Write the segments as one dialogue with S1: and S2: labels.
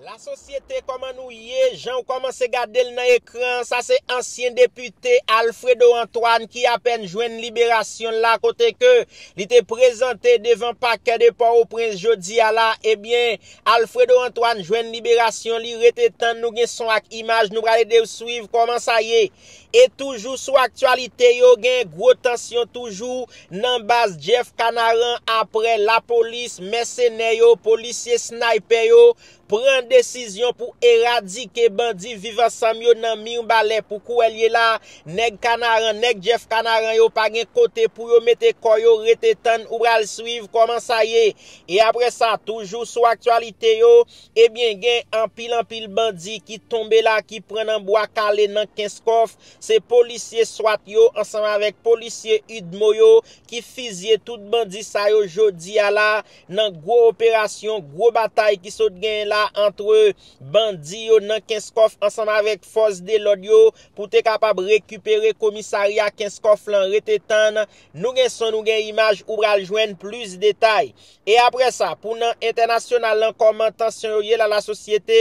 S1: La sosyete koman nou ye janw komanse gadel nan ekran sa se ansyen depite Alfredo Antoine ki apèn jwenn liberasyonl la kote ke li te prezante devan pakè de pò o prens jodia la ebyen Alfredo Antoine jwenn liberasyon li rete tann nou gen son ak imaj nou pral edew swiv koman sa ye. E toujou sou aktyalite yo gen gwo tansyon toujou nan baz Jeff Canaran aprè lapolis, mèsenè yo, polisye snaypè yo pran desizyon pou eradike bandi viv ansanm yo nan Mirbalè pou kouwèl ye la nèg Canaran nèg Jeff Canaran yo pa gen kote pou yo mete kò yo rete tann ou pral swiv kòman sa ye e aprè sa toujou sou aktyalite yo Ebyen gen anpil anpil bandi ki tonbe la ki pran nan bwa kale nan kenskòf, se polisye swat yo ansanm avèk polisye udmo yo ki fizye tout bandi sa yo jodi a la nan gwo operasyon gwo batay ki sot genyen la antre bandi yo nan kenskòf ansanm avèk fòs de lòd yo pou te kapab rekipere komisarya kenskòf lan rete tann nou gen son nou gen imaj ou pral jwenn plis detay. E aprè sa pou nan entènasyonal lan kòman tansyon yo ye la la sosyete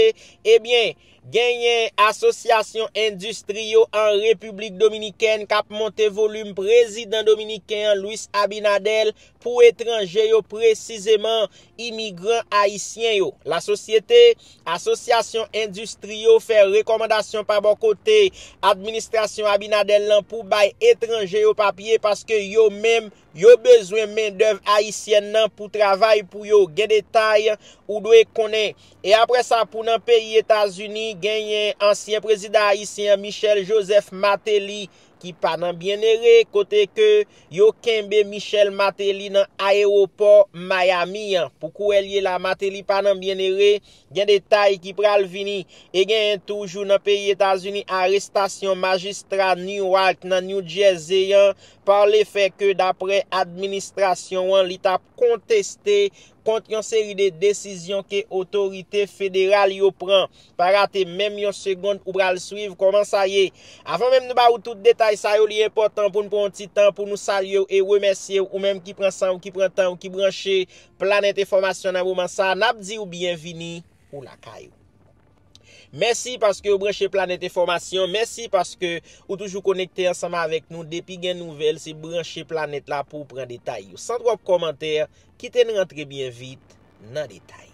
S1: ebyen genyen asosyasyon endistri yo an repiblik dominikèn kap monte volim prezidan dominiken an Luis Abinadel pou etranje yo presizeman imigran ayisyen yo la sosyete asosyasyon endistri yo fè rekòmandasyon pa bò kote administrasyon Abinadel lan pou bay etranje yo papye paske yo menm Yo bezwen mendèv ayisyèn nan pou travay pou yo. Gen detay ou dwe konnen. E apre sa pou nan peyi Etazini genyen ansyen prezidan ayisyen an Michel Joseph Martelly ki pa nan byenere kote ke yo kenbe Michel Martelly nan ayewopò Miami an. Pou kouwè l ye la Martelly pa nan byenere. Gen detay ki pral vini. E genyen toujou nan peyi Etazini arestasyon majistra Newark nan New Jersey an par le fè ke daprè administrasyon an li tap konteste kont yon seri de desizyon ke otorite federal yo pran. Pa rate menm yon segond ou pral swiv kòman sa ye. Avan menm nou ba ou tout detay sa yo li enpòtan pou nou pran yon ti tan pou nou salye w e remèsye w ou menm ki pran san w ki pran tan w ki branche Planet Enfòmasyon nan moman sa nap di w byenvini ou lakay ou. Mèsi paske ou branche Planèt Enfòmasyon, mèsi paske ou toujou konekte ansanm avèk nou, depi gen nouvèl se branche Planèt la pouw pran detay yo. San twòp kòmantè, kite n rantre byen vit nan detay.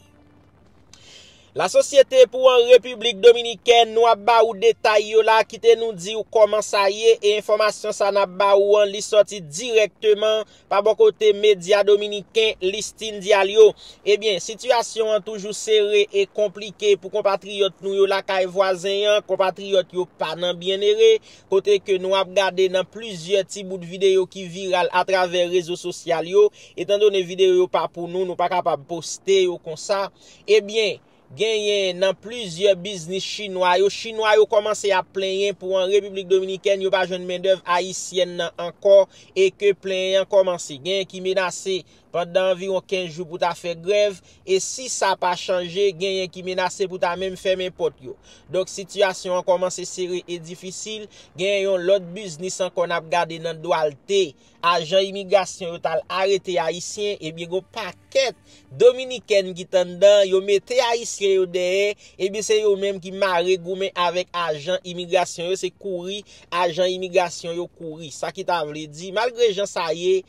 S1: La Société pou an Repiblik Dominikèn, nou ap ba ou detay yo la, kite nou diw kòman sa ye e enfòmasyon sa nap ba ou an li sòti dirèkteman Pa bò kote medya dominiken Listín Diallo, ebyen sitiyasyon an toujou sere e konplike pou konpatriyòt nou yo lakay vwazen an, konpatriyòt yo pa nan byennere, kote ke nou ap gade nan plizyè ti bout videyo ki viral atravè rezo sosyal yo, etandone videyo yo pa pou nou, nou pa kapab poste yo konsa, ebyen. genyen nan plizyè biznis chinwa yo, chinwa yo kòmanse ap plenyen pou an Repiblik Dominikèn yo pa jwenn mendèv ayisyèn nan ankò e ke plenyen an kòmanse. Genyen ki menase pandan anviwon 15 jou pou ta fè grèv e si sa pa chanje genyen ki menase pou ta menm fèmen pòt yo. Donk sitiyasyon an kòmanse sere e difisil, genyen yon lòt biznis ankò n ap gade nan Duarte ajan imigrasyon yo tal arete ayisyen ebyen gon pakèt dominikèn ki t anndan yo mete ayisyen yo dèyè ebyen se yo menm ki mare goumen avèk ajan imigrasyon yo se kouri ajan imigrasyon yo kouri sa ki ta vle di malgre jan sa ye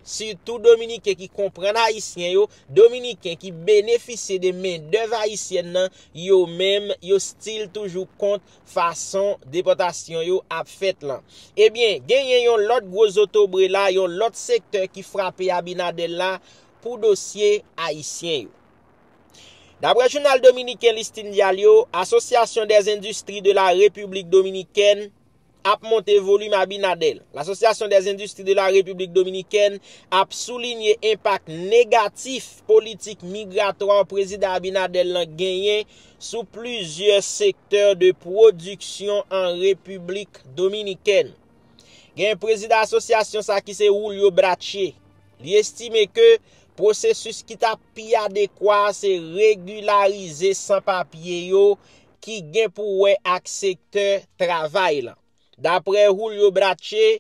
S1: sitou dominiken ki konprann ayisyen yo dominiken ki benefisye de mendèv ayisyèn nan yo menm yo stil toujou kont fason depòtasyon yo ap fèt lan. Ebyen, genyen yon lòt gwo zotobre la, yon lòt sektè ki frape Abinader la pou dosye Ayisyen yo. Daprè jounal dominiken Listin Diario, Association des Industries de la République Dominicaine ap monte volim Abinader. L'Association des Industries de la République Dominicaine ap soulinye enpak negatif politik migratwa Prezidan Abinader lan genyen sou plizyè sektè de pwodiksyon an Repiblik Dominikèn. Gen prezida asosyasyon sa ki se Julio Brache. Li estime ke pwosesis ki ta pi adekwa se regilarize san papye yo ki gen pou wè ak sektè travay lan. Dapre Julio Brache,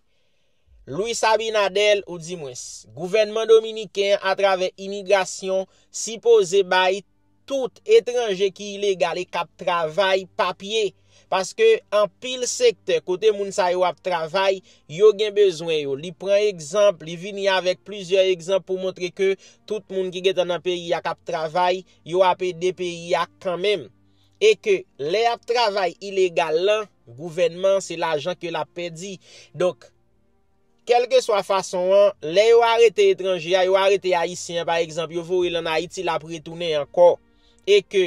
S1: Luis Abinader ou di mwens, gouvènman dominiken an atravè imigrasyon sipoze bay tout etranje ki ilegal e kap travay papye paske anpil sektè kote moun sa yo ap travay yo gen bezwen yo li pran egzanp li vini avèk plizyè egzanp pou montre ke tout moun ki gentan nan peyi a kap travay yo ap ede peyi a kanmenm e ke lè yap travay ilegal lan gouvènman se lajan ke lap pèdi donk. Kèlkeswa fason an, lè yo arete etranje a, yo arete Ayisyen an pa egzanp, yo voye l ann Ayiti, l ap retounen ankò e ke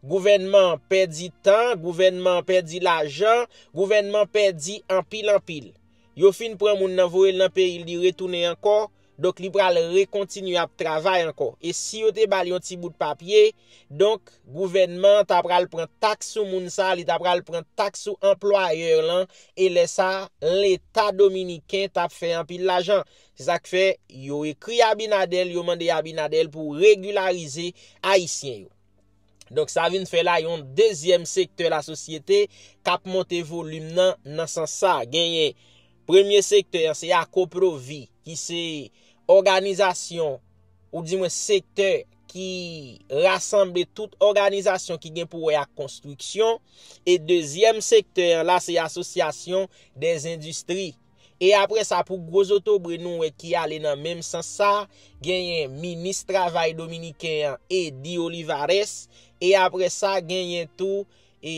S1: gouvènman an pèdi tan, gouvènman an pèdi lajan, gouvènman an pèdi anpil anpil. Yo fin pran moun nan voye l nan peyi l li retounen ankò, Donk li pral rekontinye ap travay ankò. E si yo te ba l yon ti bout papye, donk gouvènman an ta pral pran taks sou moun sa a, li ta pral pran taks sou anplwayè l lan, e lè sa a, leta dominiken t ap fè anpil lajan. Se sa k fè, yo ekri Abinader, yo mande Abinader pou regilarize Ayisyen yo. Donk sa vin fè la yon dezyèm sektè la sosyete kap monte volim nan nan san sa genyen. Premye sektè an se Akoprovi ki se òganizasyon ou di mwen sektè ki rasanble tout òganizasyon ki gen pou wè ak konstriksyon e dezyèm sektè an la se asosyasyon dèzendistri. E apre sa pou gwo zotobre nou wè ki ale nan menm sans sa, genyen minis travay dominiken an Eddy Olivares, e apre sa genyen tou e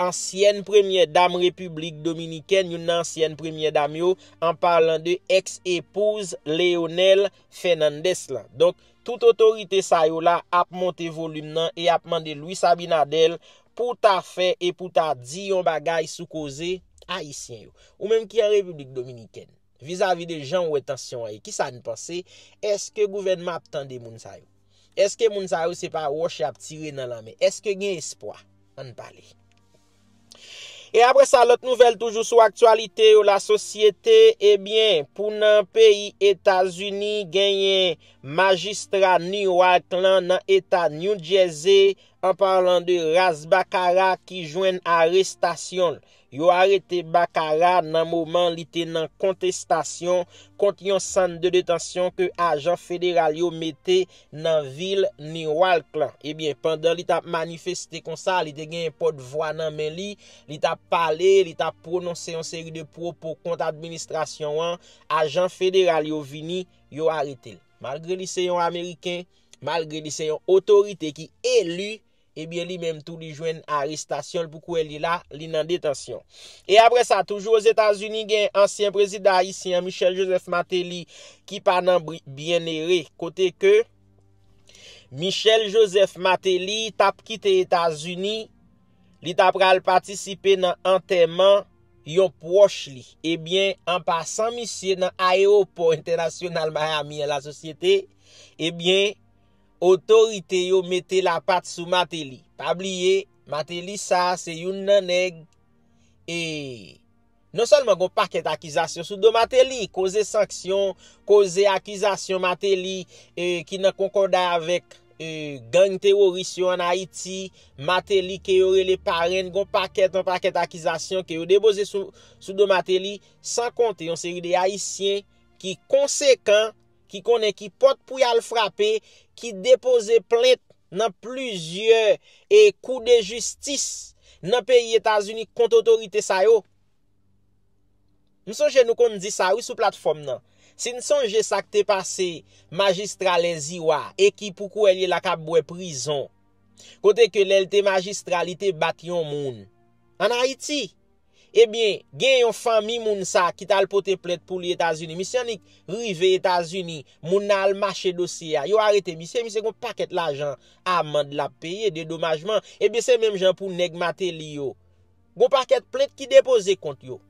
S1: ansyèn premyè dam repiblik dominikèn, youn nan ansyèn premyè dam yo, an palan de ex epouz Leonel Fernandez la. Donk tout otorite sa yo la ap monte volim nan e ap mande Luis Abinader pou w ta fè e pou w ta di yon bagay sou koze Ayisyen yo. Ou menm ki an Repiblik Dominikèn, vizavi de jan ou wè tansyon an ye, ki sa n panse? Eske gouvènman ap tande moun sa yo? Eske moun sa yo se pa wòch y ap tire nan lanmè? Eske gen espwa? Ann pale. E apre sa, lòt nouvèl toujou sou aktyalite yo, lasosyete, ebyen, pou nan peyi Etazini, genyen majistra Newark lan nan Eta New Jersey, An parlan de ras Bakara ki jwenn arestasyonl. Yo arete Bakara nan moman li te nan kontestasyon kont yon sann de detansyon ke ajan federal yo mete nan vil Newark lan. Ebyen pandan li tap manifeste konsa li te gen yon pot vwa nan men li, li tap pale, li tap pwononse yon seri de pwopo kont administrasyon an, ajan federal yo vini, yo aretel. Malgre li se yon ameriken, malgre li se yon otorite ki eli, ebyen li menm tou li jwenn arestasyon l pou kouwè li la, li nan detansyon. E apre sa, toujou Ozetazini gen ansyen prezidan ayisyen an Michel Joseph Martelly ki pa nan byenere kote ke Michel Joseph Martelly tap kite Etazini Li ta pral patisipe nan antèman yon pwòch li. Ebyen, an pasan misye nan ayewopò entènasyonal Miami an la sosyete, ebyen, otorite yo mete lapat sou Mateli. Pa bliye, Mateli sa se youn nan nèg e Non sèlman gon pakèt akizasyon sou do Mateli, koze sanksyon, koze akizasyon Mateli ki nan konkòda avèk gang teworis yo an Ayiti, Mateli ke yo rele parenn, gon pakèt an pakèt akizasyon ke yo depoze sou do Mateli, san konte yon seri de Ayisyen ki konsekan, ki konnen ki pòt pou y al frape, ki depoze plent nan plizyè e kou de jistis nan peyi Etazini kont otorite sa yo. M sonje nou konn di sa wi sou platfòm nan. Si n sonje sa k te pase majistra Lèziwa e ki pou kouwè l ye la k ap bwè prizon. Kote ke lè l te majistra li te bat yon moun. An Ayiti. Ebyen, gen yon fanmi moun sa ki t al pote plent pou li Etazini. Misye annik rive Etazini, moun nan al mache dosye a. Yo arete misye, misye gen yon pakèt lajan amand l ap peye, dedomajman. Ebyen se menm jan pou nèg Mateli yo. Gen yon pakèt plent ki depoze kont yo.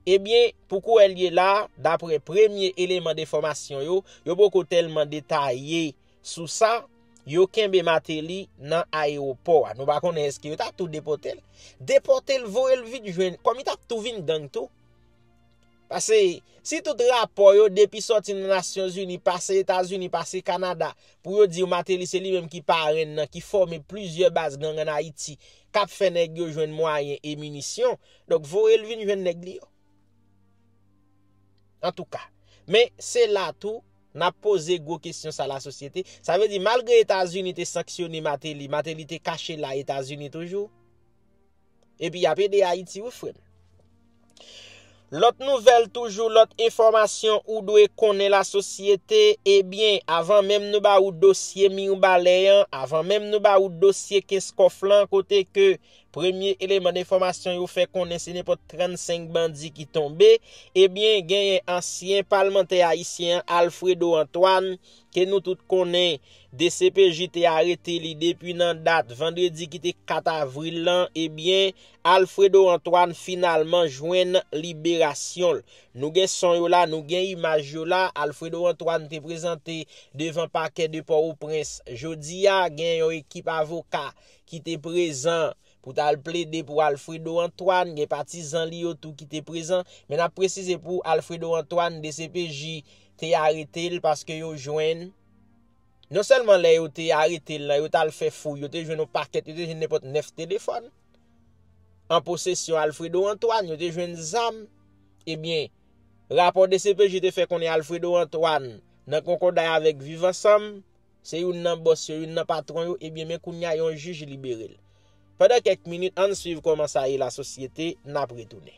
S1: Ebyen, pou kouwè l ye la, dapre premye eleman de enfòmasyon yo, yo poko tèlman detaye Sou sa, yo kenbe Mateli nan ayewopò a. Nou pa konnen eske yo ta tou depote l. Depote l, voye l vit jwenn. Kòm li ta tou vin gang tou. Pase, si tout rapò yo depi sòti nan Nasyon Zini, pase Etazini, pase Kanada, pou yo di w Mateli se li menm ki parenn nan, ki fòme plizyè baz gang an Ayiti, k ap fè nèg yo jwenn mwayen e minisyon, donk voye l vin jwenn nèg li yo. Antouka. Men, se la tou. Nap poze gwo kesyon sa la sosyete. Sa vle di malgre Etazini te sanksyone Mateli, Mateli te kache la Etazini toujou? Epi yap ede Ayiti wi frèm. Lòt nouvèl toujou, lòt enfòmasyon ou dwe konnen la sosyete, ebyen avan menm nou ba ou dosye Mirbalè an, avan menm nou ba ou dosye Kenskòf lan kote ke Premye eleman enfòmasyon yo fè konnen se nenpòt 35 bandi ki tonbe, ebyen genyen ansyen palmantè ayisyen an Alfredo Antoine ke nou tout konnen dcpj te arete li depi nan dat vandredi ki te 4 avril lan, ebyen Alfredo Antoine finalman jwenn liberasyon l. Nou gen son yo la, nou gen imaj yo la, Alfredo Antoine te prezante devan pakè de Pòwoprens jodi a, gen yon ekip avoka ki te prezan pou ta al plede pou Alfredo Antoine, gen patizan li yo tou ki te prezan. Men n ap presize pou Alfredo Antoine, dcpj te arete l paske yo jwenn, non sèlman lè yo te arete l lan, yo t al fè fouy, yo te jwenn yon pakèt, yo te jwenn nenpòt 9 telefòn an posesyon Alfredo Antoine, yo te jwenn zam. Ebyen, rapò dcpj te fè konnen Alfredo Antoine nan konkòday avèk Viv Ansanm, Se youn nan bòs yo, youn nan patwon yo, ebyen men kounya yon jij libere l. Pandan kèk minit, ann swiv kòman sa ye lasosyete, n ap retounen.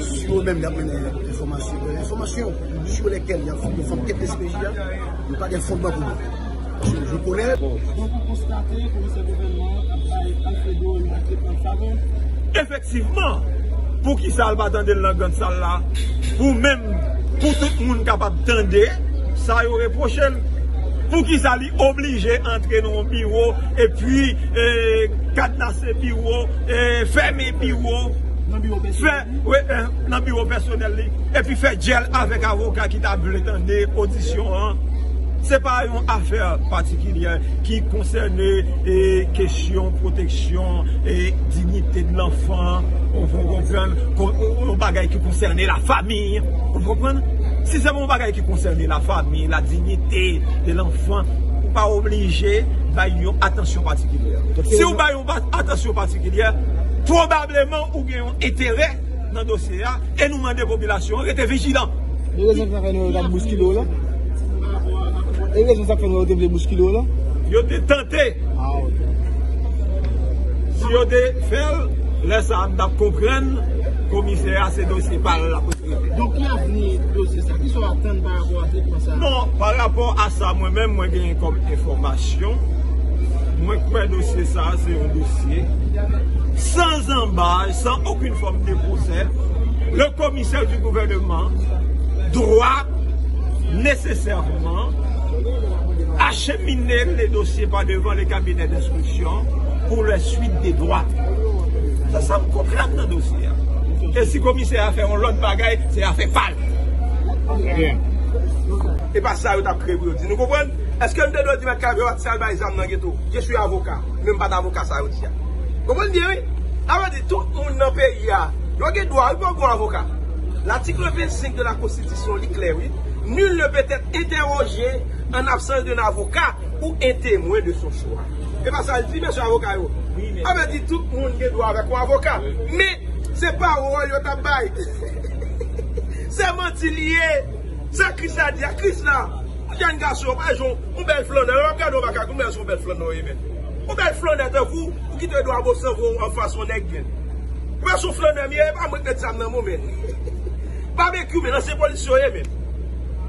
S2: Si yo menm yap mennen enfòmasyon sou lèkèl yap fè fòm kèk DCPJ a, yo pa gen fondman pou yo. Paske yo konnen. Donk ou konstate komisè gouvènman an ap bay Alfredo yon
S3: tretman favè? Efektivman!
S4: Poukisa l pa tande l nan grand sal la pou menm pou tout moun kapab tande sa yo repwoche l? Poukisa li oblije antre nan yon biwo epi kadnase biwo, fèmen biwo? fè nan biwo pèsonèl li epi fè djèl avèk avoka ki ta vle tande odisyon an, se pa yon afè patikilyè ki konsène kesyon pwoteksyon e dignite de lanfan, ou konprann, yon bagay ki konsène la fami, ou konprann? Si se yon bagay ki konsène la fami, la dignite de lanfan, ou pa oblije bay yon atansyon patikilyè. Atansyon patikilyè, pwobableman ou gen yon enterè nan dosye a e nou mande popilasyon an rete vijilan. E rezon sa k fè
S3: nou yo t ap bouskile w lan? E rezon sa k fè nou yo te vle bouskile w lan? Yo te tante.
S4: Ah
S3: ok.
S4: Si yo te fè l, lè sa a m t ap konprann komisè a se dosye pa l l ap. Donk ki avni
S3: dosye sa? Kisa w atann pa rapò a tretman sa? Bon, pa rapò
S4: a sa mwen menm mwen genyen kòm enfòmasyon, mwen kwè dosye sa se yon dosye san zanbay, san okin fòm de pwosè, le komisè di gouvèneman dwa nesesèman achemine le dosye pa devan le kabinè denswiksyon pou le swit de dwa. Sa sa m konprann nan dosye a. Se afè yon lòt bagay, se afè pa l. Trè byen. E pa sa yo t ap kreye pou yo di. Nou konprann? Eske m te dwe di mèt kay Vewa t sal bay zam nan geto? Je suis avocat. Men m pa t avoka sa yo di a. Konprann byen wi. Sa vle di tout moun nan peyi a, yo gen dwa wi pou yo pran avoka. L'article 25 de la Constitution li klè wi. Nul ne peut être interrogé en absence d'un avocat ou un témoin de son choix. E pa sa l di mesye avoka yo? Sa vle di tout moun gen dwa avèk yon avoka. Men, se pawòl yo t ap bay. Se manti li ye. Sa Kris la di a, Kris la, yon jenn gason, yon pa jan yon bèl flannè. Lè w ap gade yon makak, ou mè se yon bèl flannè w ye menn. Yon bèl flannè tankou w, ou kite dwa bo sanvre w anfas yon nèg menn. Ou mè se yon flannè m ye, e pa mwen k mèt zam nan men w menn. Babekyou menn, ansyen polisye w ye menn.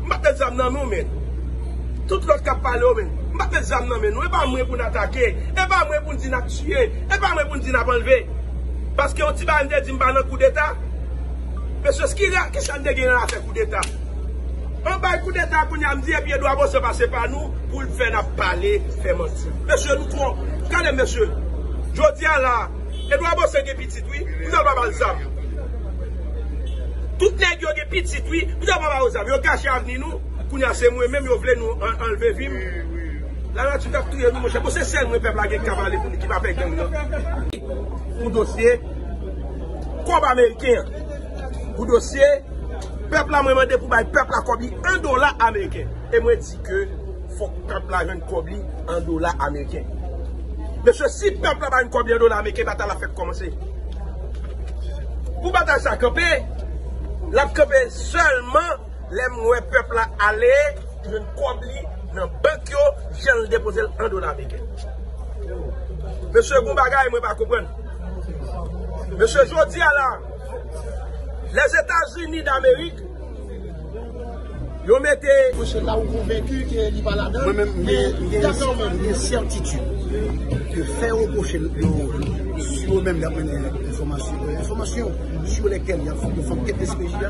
S4: M pa t mèt zam nan men w menn. Tout lòt kap pale yo menm. M pat met zam nan men nou. E pa mwen pou n atake. E pa mwen pou n di nap tiye. E pa mwen pou n di nap anlve. Paske yon ti bagay m te di m pa nan koudeta. Mesye skira kisa n te gen nan afè koudeta. An bay koudeta kounye a m di epi Edwa Bosè pase pa nou pou l fè nap pale, fè manti. Mesye nou twò. Gade m mesye. Jodi a la a. Edwa Bosè gen pitit wi. Poutèt l pa ba l zam. Tout nèg yo gen pitit wi. Poutèt l pa ba yo zam. Yo gache avni nou. Kounya se mwen menm yo vle nou anlve vim la nati tap touyem wi monchè bon se sèl mwen pèp la gen kap ale pou li ki pa pè gang nan pou dosye kòb ameriken an pou dosye pèp la mwen mande pou bay pèp la kòb li an dola ameriken e mwen di ke fòk pèp la jwenn kòb li an dola ameriken mesye si pèp la bay nou kòb li an dola ameriken batay la fèk kòmanse pou batay sa kanpe lap kanpe sèlman Lem we pep la ale jwenn kob li nan bank yo janl depozel an dola ameriken. Mesye gon bagay mwen pa konprann. Mesye jodia la les etats unis d'amerik yo mete. Mesye la ou konvenki
S2: ke li pa ladann. Mwen menm m gen certitude ke fe reproche yo sou yo menm yap mennen enfomasyon sou lekel yap fout yo fanm ke despejia.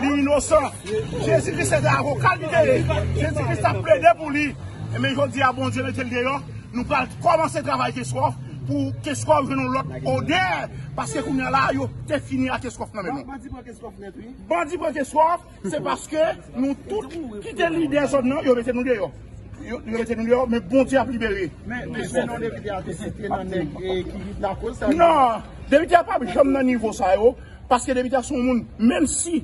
S2: Li inosan. Jezi kris se te avoka li te ye. Jezi kris tap plede pou li. Enben jodi a Bondye mete l deyò. Nou pral kòmanse travay Keskòf pou Keskòf jwenn yon lòt odè. Paske kounye a la yo te fini ak Keskòf nan men nou. Bandi pran Keskòf nèt wi. Bandi pran Keskòf. Se paske nou tout ki te lidè zòn nan yo mete nou deyò. Yo mete nou deyò men Bondye ap libere. Men se non depite a te site nan nèg ki lakoz sa yo. Non. Depite a pap janm nan nivo sa yo. Paske debite a se yon moun menm si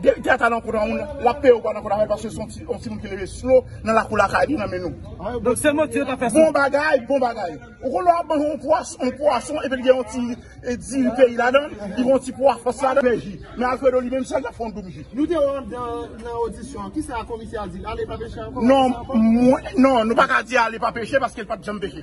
S2: debite a ta nan kont yon moun lap peye ou pa nan kont afè paske se yon timoun ki leve slow nan lakou lakay li nan men nou. Donk se manti yo tap fè sou. Bon bagay bon bagay. Ou konn lè wap manje yon pwas yon pwason epi li gen yon ti diri peyi ladan li gen yon ti pwa fas ladan li ji men Alfredo li menm sèl lap fè yon doum ji. Nou te wè w andan nan odisyon an, kisa komisè a di l, ale pa peche ankò? Non, mwen, non, nou pa ka di ale pa peche paske l pat janm peche.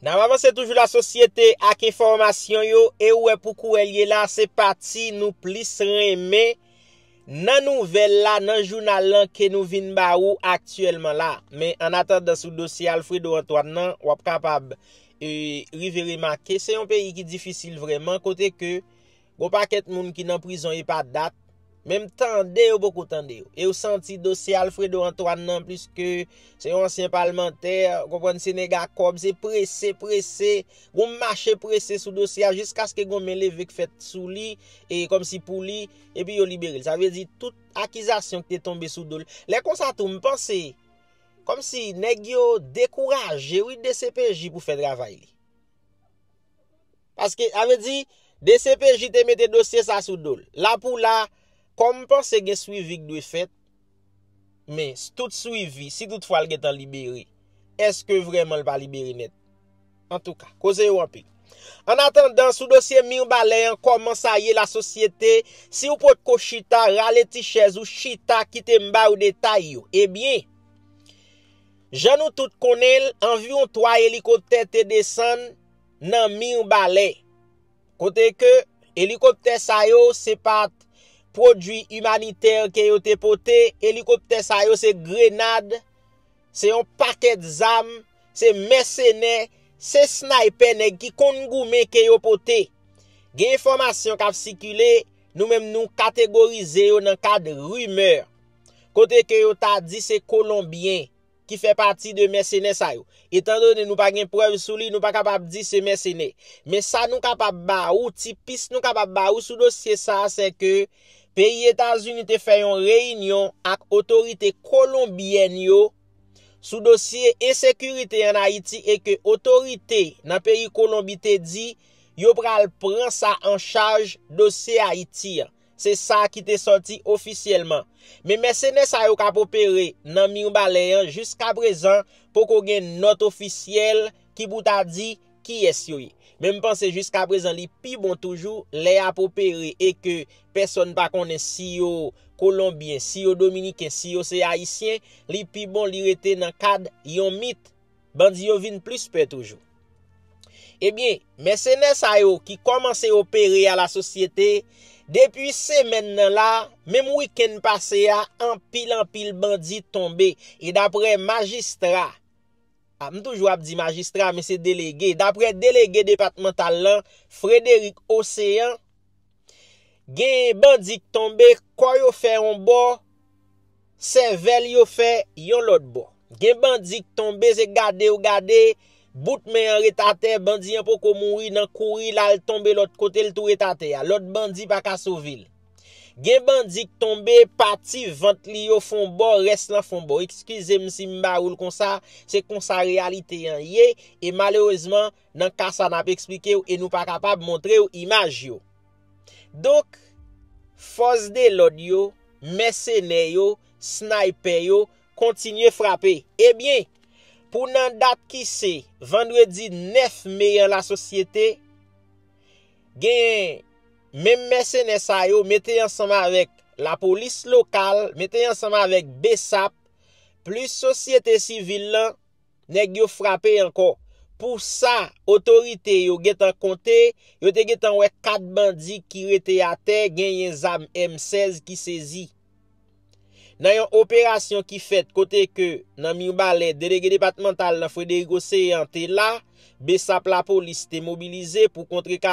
S5: Nap avanse
S1: toujou la sosyete ak enfòmasyon yo e ou wè pou kou wè l ye la se pati nou plis renmen nan nouvèl la nan jounal lan ke nou vin ba ou aktyèlman la. Men an atandan sou dosye Alfredo Antoine nan wap kapab rive remake se yon peyi ki difisil vrèman kote ke Gon pakèt moun ki nan prizon epa dat, menm tande yo poko tande yo. E yo santi dosye Alfredo Antoine nan pliske se yon ansyen palmantè, ou konprann se nèg a kòb, se prese, prese, gon mache prese sou dosye a jiskaske gon men leve k fèt sou li, e kòmsi pou li, epi yo libere l. Sa vle di tout akizasyon ki te tonbe sou do l. Lè konsa tou m panse, kòmsi nèg yo dekouraje wi dcpj pou fè travay li. Paske, sa vle di, dcpj te mete dosye sa sou do l. La pou la, kòm m panse gen swivi k dwe fèt, men, tout swivi, si tout fwa l gen tan libere, èske vrèman l pa libere nèt? Antouka, koze yo anpil. Ann atandan, sou dosye Mirbalè an, kòman sa ye lasosyete, si w potko chita, rale ti chèz ou, chita, kite m ba ou detay yo. Ebyen, jan nou tout konnen l, anviwon 3 elikoptè te desann, nan Mirbalè, kote ke elikoptè sa yo se pat pwodwi imanitè ke yo te pote, elikoptè sa yo se grenad, se yon pakèt zam, se mèsenè, se snaypè nèg ki konn goumen ke yo pote. Gen enfòmasyon k ap sikile, nou menm nou kategorize yo nan kad rimè, kote ke yo ta di se Kolonbyen. ki fè pati de mèsenè sa yo. Etan done nou pa gen prèv sou li, nou pa kapab di se mèsenè. Men sa nou kapab ba ou, ti pis nou kapab ba ou sou dosye sa a sè ke peyi Etazini te fè yon reyinyon ak otorite kolonbyèn yo sou dosye ensekirite an Ayiti e ke otorite nan peyi Kolonbi te di yo pral pran sa an chaj dosye Ayiti an. Se sa ki te sòti ofisyèlman. Men mèsenè sa yo k ap opere nan Mirbalè an jiska prezan poko gen nòt ofisyèl ki pou ta di kiyès yo ye. Men m panse jiska prezan li pi bon toujou lè y ap opere e ke pèsòn pa konnen si yo Kolonbyen, si yo Dominiken, si yo se Ayisyen, li pi bon li rete nan kad yon mit. bandi yo vin plis pè toujou. Ebyen, mèsenè sa yo ki kòmanse opere a la sosyete, depi semèn nan la, menm wikenn pase a, anpil anpil bandi tonbe. E daprè majistra, a m toujou ap di majistra men se delege, daprè delege depatmantal lan, Frederic Océan, Gen bandi k tonbe, kò yo fè yon bò, sèvèl yo fè yon lòt bò. Gen bandi k tonbe, se gade yo gade, bout men an ret atè, bandi an poko mouri nan kouri l al tonbe lòt kote l tou ret atè a. Lòt bandi pa ka sove l. Gen bandi k tonbe, pati vant li yo fon bò, rès lan fon bò. Ekskize m si m ba ou l konsa, se konsa reyalite an ye, e malerezman, Nan ka sa nap eksplike w e nou pa kapab montre w imaj yo. Donk, fòs de lòd yo, mèsenè yo, snaypè yo, kontinye frape. E byen, pou nan dat ki se, vandredi 9 me an la sosyete, genyen, menm mèsenè sa yo mete ansanm avèk lapolis lokal, mete ansanm avèk bsap, plis sosyete sivil lan, Nèg yo frape ankò. Pou sa, otorite yo gentan konte, yo te gentan wè 4 bandi ki rete atè genyen zam M 16 ki sezi. Nan yon operasyon ki fèt kote ke nan Mirbalè Delege Depatmantal nan Frederic Océan te la, bsap lapolis te mobilize pou kontrekare.